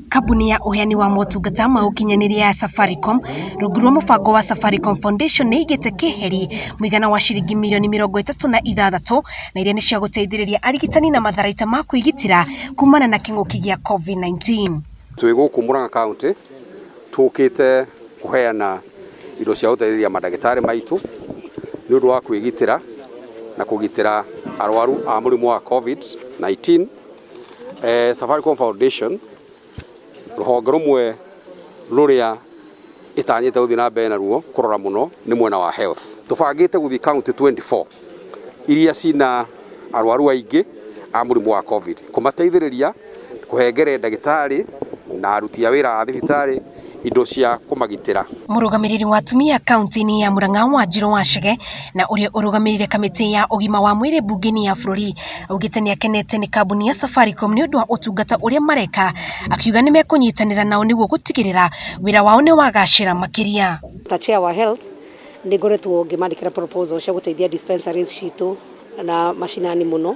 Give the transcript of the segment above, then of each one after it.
Kambuni ya ũheani wa motungata ma ũkinyanĩria ya Safaricom rungu rwa mũbango wa Safaricom Foundation nĩ ĩigĩte keheri mũigana wa ciringi mirioni mĩrongo ĩtatũ na ithathatũ na iria nĩ cia gũteithĩrĩria arigitani na matharaita ma kwĩgitĩra kumana na kĩng'ũki gĩa COVID-19. Twĩ gũkũ Murang'a County tũkĩte kũheana indo cia gũteithĩrĩria mandagĩtarĩ maitũ nĩ ũndũ wa kwĩgitĩra na kũgitĩra arwaru a mũrimũ wa COVID-19. Eh, Safaricom Foundation rũhonge rũmwe rũrĩa ĩtanyĩte gũthiĩ na mbere naruo kũrora mũno nĩ mwena wa health tũbangĩte gũthiĩ county 24 iria cina arwaru aingĩ a mũrimũ wa covid kũmateithĩrĩria kũhengere ndagĩtarĩ na aruti a wĩra a thibitarĩ indo cia kũmagitĩra. Mũrũgamĩrĩri wa atumia kaunti-inĩ ya Murang'a Wanjirũ Wachege na ũrĩa ũrũgamĩrĩire kamĩtĩ ya ũgima wa mwĩrĩ mbunge-inĩ ya bũrũri augĩte nĩ akenete nĩ kambuni ya Safaricom nĩ ũndũ wa ũtungata ũrĩa mareka akiuga nĩ mekũnyitanĩra nao nĩguo gũtigĩrĩra wĩra wao nĩ wagacĩra makĩria. Ta chair wa health nĩ ngoretwo ngĩmandĩkĩra proposal cia gũteithia dispensaries citũ na macinani mũno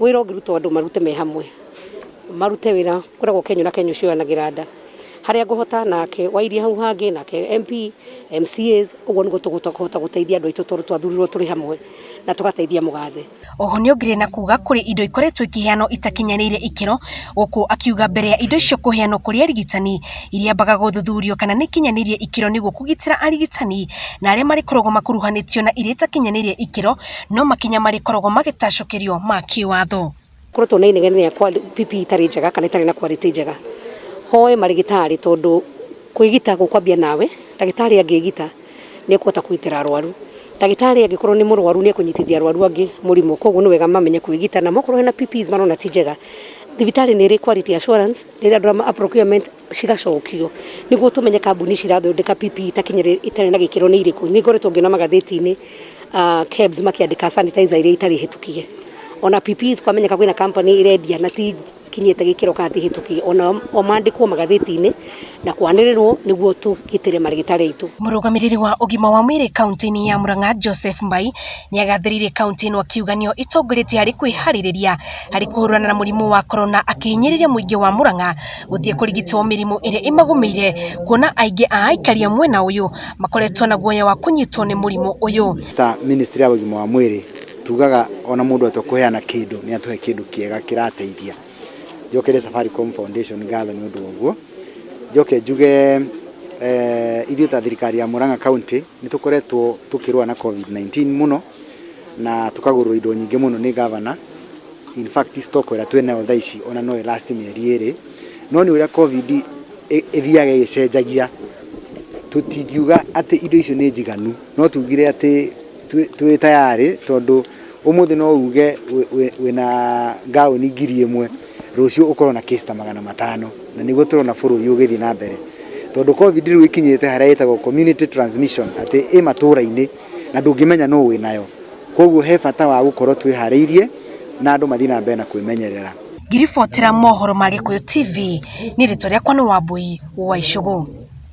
Wĩra ũngĩrutwo andũ marute me hamwe, marute wĩra ũkoragwo kenyũ na kenyũ cioyanagĩra nda, harĩa ngũhota nake wa iria hau hangĩ, nake MP, MCAs, ũguo nĩguo tũkũhota gũteithia andũ aitũ tondũ twathurirwo tũrĩ hamwe na tũgateithia mũgathe. Oho nĩongereire na kuuga kũrĩ indo ikoretwo ikĩheanwo itakinyanĩire ikĩro, gũkũ akiuga mbere ya indo icio kũheanwo kũrĩ arigitani, iriambaga gũthuthurio kana nĩikinyanĩirie ikĩro nĩguo kũgitĩra arigitani na arĩa marĩkoragwo makuruhanĩtio na iria itakinyanĩirie ikĩro no makinya marĩkoragwo magĩtacũkĩrio ma kĩwatho. Koretwo na inegene rĩa PP itarĩ njega kana itarĩ na quality njega. Hoe marĩgĩtarĩ tondũ kwĩgita gũkwambia nawe, ndagĩtarĩ angĩgita nĩ ekũhota kũgitĩra arwaru. Ndagĩtarĩ angĩkorwo nĩ mũrwaru nĩ ekũnyitithia arwaru angĩ mũrimũ koguo nĩ wega mamenye kwĩgita. Namo okorwo hena PPs marona ti njega, thibitarĩ nĩ ĩrĩ quality assurance rĩrĩa andũ a procurement... cigacokio niguo tumenye kambuni ici irathondeka PPE itakinyire itari na gikiro ni iriku ni ngoretwo ngiona magatheti-ini ah, KEBS makiandika sanitizer iria itari hitukie ona PPE kwamenyeka kwina company irendia na ti kinyite gikiro kana ti hitukie ona o mandikwo magatheti-ini na kwanirirwo niguo tugitire marigitari aitu Mũrũgamĩrĩri wa ũgima wa mwĩrĩ kaunti-inĩ ya Murang'a Joseph Mbai nĩagathĩrĩirie kaunti ĩno akiuga nĩyo ĩtongoretie harĩ kwĩharĩrĩria harĩ kũhũrana na mũrimũ wa korona akĩhinyĩrĩria mũingĩ wa Murang'a gũthiĩ kũrigitwo mĩrimũ ĩrĩa ĩmagũmĩire kuona aingĩ a aikari a mwena ũyũ makoretwo na guoya wa kũnyitwo nĩ mũrimũ ũyũ. Ta ministry ya ũgima wa mwĩrĩ tugaga ona mũndũ atua kũheana kĩndũ nĩ atũhe kĩndũ kĩega kĩrateithia. Njokerie Safaricom Foundation ngatho nĩ ũndũ wa ũguo. Njoke njuge ithuĩ ta thirikari ya Murang'a County nĩ tũkoretwo tũkĩrũa na Covid-19 mũno na tũkagũrwo indo nyingĩ mũno nĩ governor, in fact stock ĩrĩa twĩ nayo thaa ici ona no ĩ last mĩeri ĩrĩ, no nĩ ũrĩa Covid ĩthiaga ĩgĩcenjagia, tũtingiuga atĩ indo icio nĩ njiganu, no tugire atĩ twĩ tayarĩ tondũ ũmũthĩ no uge wĩna ngaũni ngiri ĩmwe, rũciũ ũkorwo na case ta magana matano, na nĩguo tũrona bũrũri ũgĩthiĩ na mbere, tondũ Covid rĩu ĩkinyĩte harĩa ĩtagwo community transmission atĩ ĩ matũra-inĩ. na ndũngĩmenya nũ wĩnayo. Kwoguo he bata wa gũkorwo twĩharĩirie na andũ mathiĩ na mbere na kwĩmenyerera. Ngĩribotera mohoro ma Gĩkũyũ TV, niĩ rĩtwa rĩakwa nĩ Wambũi wa Icũgũ.